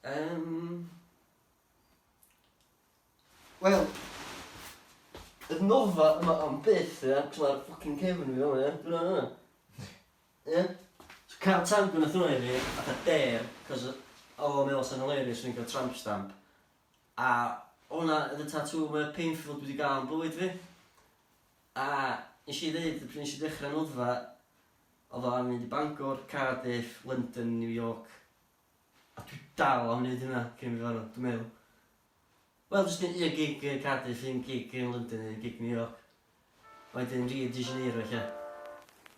Um, Wel, y nofa yma am byth, ie? Cos mae'r ffocin cefn fi yma, ie? Dwi'n yna. Ie? So cael tan gwnaeth hwnna i fi, a da der, cos oedd o'n meddwl sy'n hilarious o'n i'n cael tramp stamp. A hwnna oedd y tatŵ mwyaf painful dwi wedi gael yn bywyd fi. A nes i ddeud pryd nes i ddechra noddfa odd o am mynd i Bangor, Cardiff, London, New York a dwi dal am neud hynna cyn fi farw dwi'n meddwl. Wel jyst neud un gig yn Cardiff, un gig yn London, un gig New York. A wedyn Rio de Janeiro ella.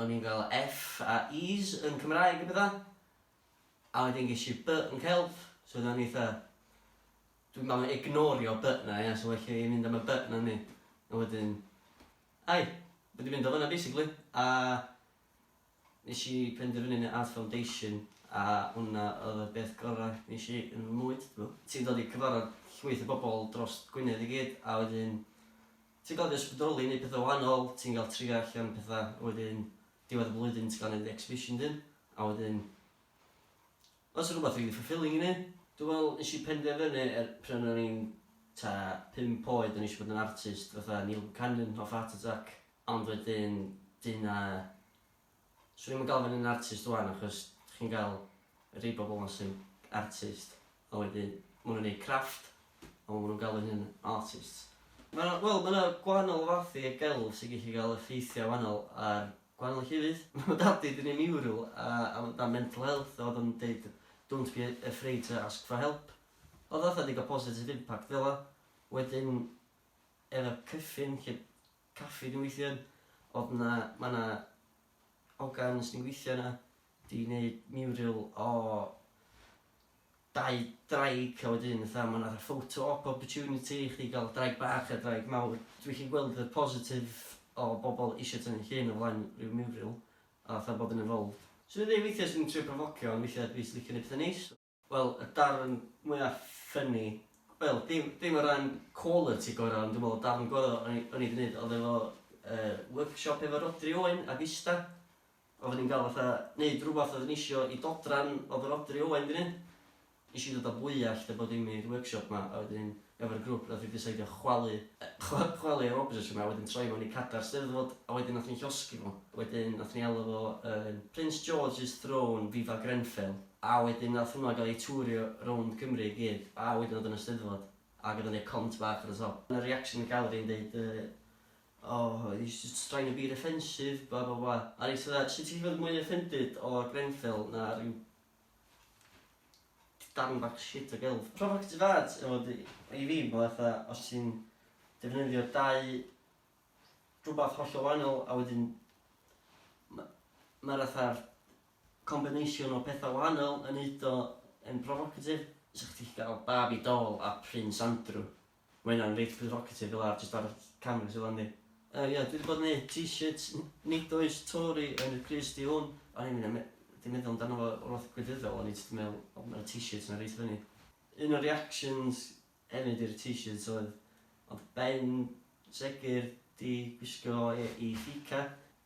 O'n i'n cael F a E's yn Cymraeg a petha. A wedyn ges i B yn Celf, so oedden ni fatha, dwi'n meddwl na ignorio B 'na ia, so well i fi mynd am y B 'na o'n i. A wedyn, ai, ma' 'di mynd o fan'na basically. A nes i penderfynu neud Art Foundation a hwnna oedd y beth gora' nes i yn fy mywyd, do. Ti'n dod i cyfarfod llwyth o bobl drost Gwynedd i gyd a wedyn Ti'n cael dy ysbrydoli i wneud pethau wahanol, ti'n cael trio allan pethau a wedyn diwedd y flwyddyn ti'n cael wneud exhibition dyn a wedyn os yw rhywbeth rili fulfilling i wneud. Dwi'n meddwl nes i penderfynu er pryd o'n i'n t'a pump oed o'n i eisiau bod yn artist fatha Neil Buchanan off Art Attack ond wedyn dyna 'swn i'm yn galw fy hun yn artist ŵan achos chi'n cael rhai bobl 'ma sy'n artist a wedyn ma' nhw'n neud crafft a ma' nhw'n galw eu hunan yn artists. Ma' 'na, wel ma' 'na gwahanol fath i y gelf sy'n gallu cael effeithiau wahanol ar gwahanol llefydd. Ma' dad fi 'di neud miwrwl a am dan mental health a o'dd o'n deud don't be afraid to ask for help. O'dd o fatha 'di ga'l positive impact fela. Wedyn efo Cryffin lle caffi dwi'n gweithio yn, odd 'na, ma' 'na ogan sy'n gweithio yna, 'di neud mural o dau ddraig a wedyn fatha ma' 'na fatha photo op opportunity i chdi ga'l draig bach a draig mawr. Dwi gallu gweld y positif o bobol isio tynnu llun o flaen ryw mural a fatha bod yn involved. Swn i'n deud weithia' swn i'n trio profocio ond weithia' dwi jyst licio neud petha neis. Wel y darn mwya ffyni, wel dim dim o ran quality gora ond dwi me'wl y darn gora o'n i o'n i di neud odd efo yy workshop efo Rhodri Owen ag ista odda ni'n ga'l fatha neud rwbath odda ni isio i dodran odd Rhodri Owen di neud ish i dod a bwyallt a bod dim i'r workshop ma a wedyn efo'r grwp nath ni diseidio chwalu yy chwalu yr object yma a wedyn troi mewn i cadar steddfod a wedyn nath ni llosgi fo wedyn nath ni alw fo yn Prince George's Throne Viva Grenfell. A wedyn nath hwnna gael ei twrio rownd Cymru i gyd, a wedyn oedd yn y Steddfod, ac oedd yn neud cont bach ar y top. Oedd 'na reaction yn gallery yn deud yy oh he's just trying to be defensive blah blah blah, a reit fatha sut ti'n gallu bod mwy offended o Grenfell na ryw darn bach shit o gelf. Provocative art efo dy i fi ma' fatha os ti'n defnyddio dau rwbath hollol wahanol a wedyn ma' ma'r fatha'r Combination o pethau wahanol yn neud o yn provocative. Sa chdi gallu cael Barbie doll a Prince Andrew. Ma' hynna'n reit provocative fel arall jyst ar y canfas fel 'na yndi? Yy ia, dwi 'di bod yn neud t-shirts n- nid oes Tory yn y crys du hwn. O'n i'm yn me- 'di meddwl amdano fo o'r fath gwleidyddol, o'n i jyst yn meddwl o ma' 'na t-shirts 'na reit funny. Un o'r reactions hefyd i'r t-shirts oedd, ond Ben segur 'di gwisgo fo i Fika.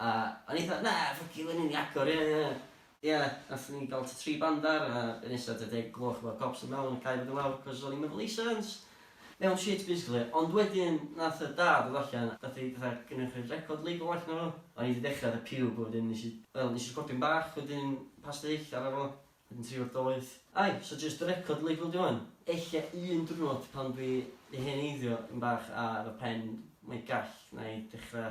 A o'n i fatha, na, ffyc you, hynny'n iacwr, ie, ie, ie. Ie, nathon ni ga'l tŷ tri bandar a be nesa tua deg y gloch efo'r cops yn mewn a cau fo i lawr cos o'n i'm efo leisans. Mewn shit basically. Ond wedyn nath y dad ddod allan a deud fatha gynna chi'r record label allan efo fo? O'n i 'di dechra fatha pube a wedyn nesh i, wel, nesh i recordio'n bach wedyn pas dy hyll arno fo, wedyn tri o'r doeth. Ai, so jyst y record label 'di hwn? Ella un dwrnod pan dwi 'di hen eiddio dipyn bach a efo pen mwy gall 'na i dechra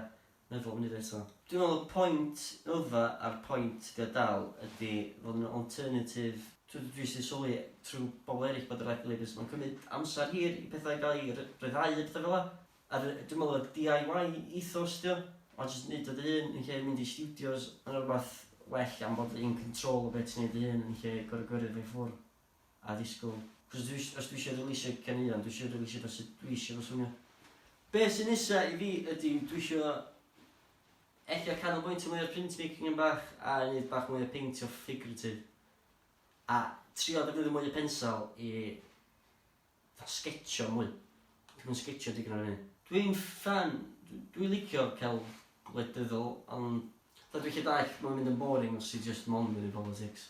Efo munud eto. Dwi'n meddwl y point yfa a'r point ga dal ydi fod yn alternative. Dwi dwi jyst di sylwi trwy bobl erill bod yr aeth ddylia jyst ma'n cymyd amser hir i pethau gael i ry- ryddhau a pethau fela. A ry- dwi'n meddwl y DIY ethos ydi o. A jyst neud o dy hun yn lle mynd i stiwdios ma' na rwbath well am bod in control o be ti'n neud dy hun yn lle gor'o' gyrru fo i ffwr'. a ddisgwyl. Cos dwi is- os dwi isio releasio caneuon, dwi isio releasio fo sut dwi isio fo swnio. Be' sy nesa i fi ydi dwi isio ella canolbwyntio mwy ar printmaking yn bach a neud bach mwy o peintio figurative. A trio defnyddio mwy o pensel i fatha sgetshio mwy. Dwi'm yn sgetshio digon ar y funud. Dwi'n ffan, dw- dwi licio celf gwledyddol ond fatha dwi 'llu dallt ma' fe'n mynd yn boring os ti jyst mond yn neud politics.